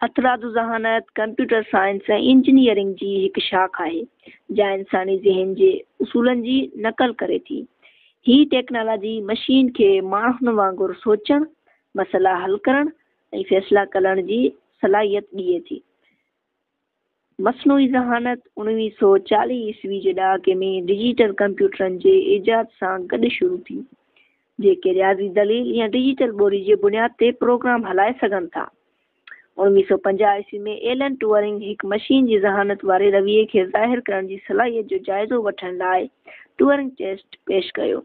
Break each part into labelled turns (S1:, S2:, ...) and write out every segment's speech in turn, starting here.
S1: هٿرادو ذهانت computer science ۽ engineering جي هڪ شاخ آهي جا انساني ذهن جي اصولن جي نقل ڪري ٿي هي ٽيڪنالاجي مشين کي ماڻهن وانگر سوچڻ مسئلا حل ڪرڻ ۽ فيصلا ڪرڻ جي صلاحيت ڏئي ٿي مصنوعي ذهانت اوڻويهه سؤ چاليهه عيسوي جي ڏهاڪي ۾ ڊجيٽل ڪمپيوٽرن جي ايجاد سان گڏ شروع ٿي، جيڪي رياضي دليل يا ڊجيٽل ٻولي جي بنياد تي پروگرام هلائي سگهن ٿا. اوڻويهه سؤ پنجاهه عيسوي ۾ ايلن ٽوئرنگ هڪ مشين جي ذهانت واري رويي کي ظاهر ڪرڻ جي صلاحيت جو جائزو وٺڻ لاء ٽوئرنگ ٽيسٽ پيش ڪيو،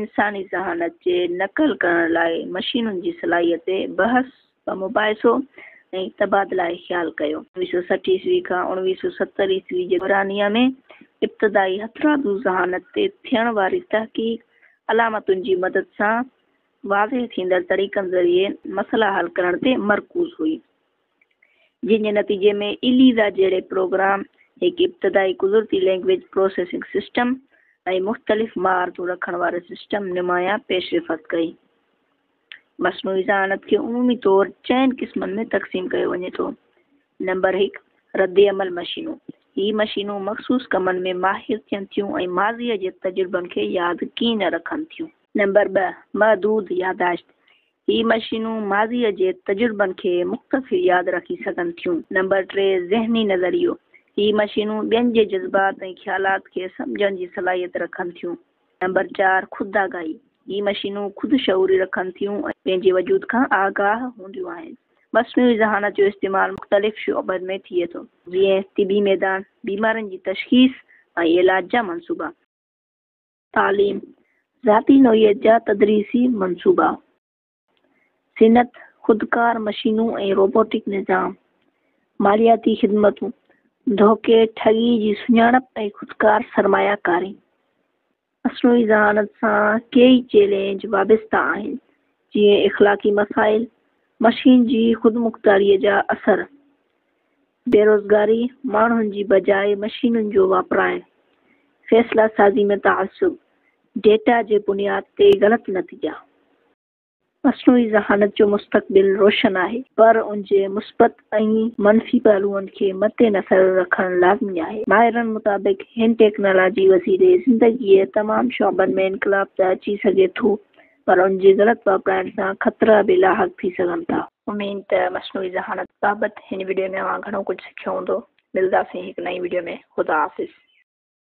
S1: انساني ذهانت جي نقل ڪرڻ لاء مشينن جي صلاحيت تي بحث و مباحثو ۽ تبادله خيال ڪيو. اوڻويهه سؤ سٺ عيسوي کان اوڻويهه سؤ ستر عيسوي جي دورانيه ۾ ابتدائي هٿرادو ذهانت تي ٿيڻ واري تحقيق علامتن جي مدد سان واضح ٿيندڙ طريقن ذريعي مسئلا حل ڪرڻ تي مرڪوز هئي. جنهن جي نتيجي ۾ اليزا جهڙي پروگرام هڪ ابتدائي قدرتي لئنگئيج پروسيسنگ سسٽم ۽ مختلف مهارتون رکڻ واري سسٽم نمايان پيشرفت ڪئي. مصنوعي ذهانت کي عمومي طور چئن قسمن ۾ تقسيم ڪيو وڃي ٿو. نمبر هڪ، رد عمل مشينون. هي مشينون مخصوص ڪمن ۾ ماهر ٿين ٿيون ۽ ماضيء جي تجربن کي ياد ڪين رکن ٿيون. نمبر ٻه، محدود ياداشت. هي مشينون ماضيء جي تجربن کي مختصر ياد رکي سگهن ٿيون. نمبر ٽي، ذهني نظريو، هي مشينون ٻين جي جذبات ۽ خيالات کي سمجهڻ جي صلاحيت رکن ٿيون. نمبر چار، خود آگاهي، هي مشينون خود شعوري رکن ٿيون ۽ پنهنجي وجود کان آگاهه هونديون آهن. مصنوعي ذهانت جو استعمال مختلف شعبن ۾ ٿئي ٿو، جيئن طبي ميدان، بيمارين جي تشخيص ۽ علاج جا منصوبا. تعليم، ذاتي نوعيت جا تدريسي منصوبا، صنعت، خودڪار مشينون ۽ روبوٽڪ نظام، مالياتي خدمتون، ڌوڪي ٺڳي جي سڃاڻپ ۽ خودڪار سرمايه ڪاري. مصنوعي ذهانت سان ڪيئي چئلينج وابسته آهن، جيئن اخلاقي مسائل، مشين جي خودمختياريء جا اثر. بيروزگاري، ماڻهن جي بجاء مشينن جو واپرائڻ، فيصلا سازي ۾ تعصب، ڊيٽا جي بنياد تي غلط نتيجا. مصنوعي ذهانت جو مستقبل روشن آهي، پر ان جي مثبت ۽ منفي پهلوئن کي مد نظر رکڻ لازمي آهي. ماهرن مطابق هن ٽيڪنالاجي وسيلي زندگيء جي تمام شعبن ۾ انقلاب ته اچي سگهي ٿو، پر ان جي غلط واپرائڻ سان خطرا به لاحق ٿي سگهن ٿا. اميد ته مصنوعي ذهانت بابت هن وڊيو ۾ اوهان گهڻو ڪجهه سکيو هوندو. ملداسين هڪ نئين وڊيو ۾ خدا حافظ.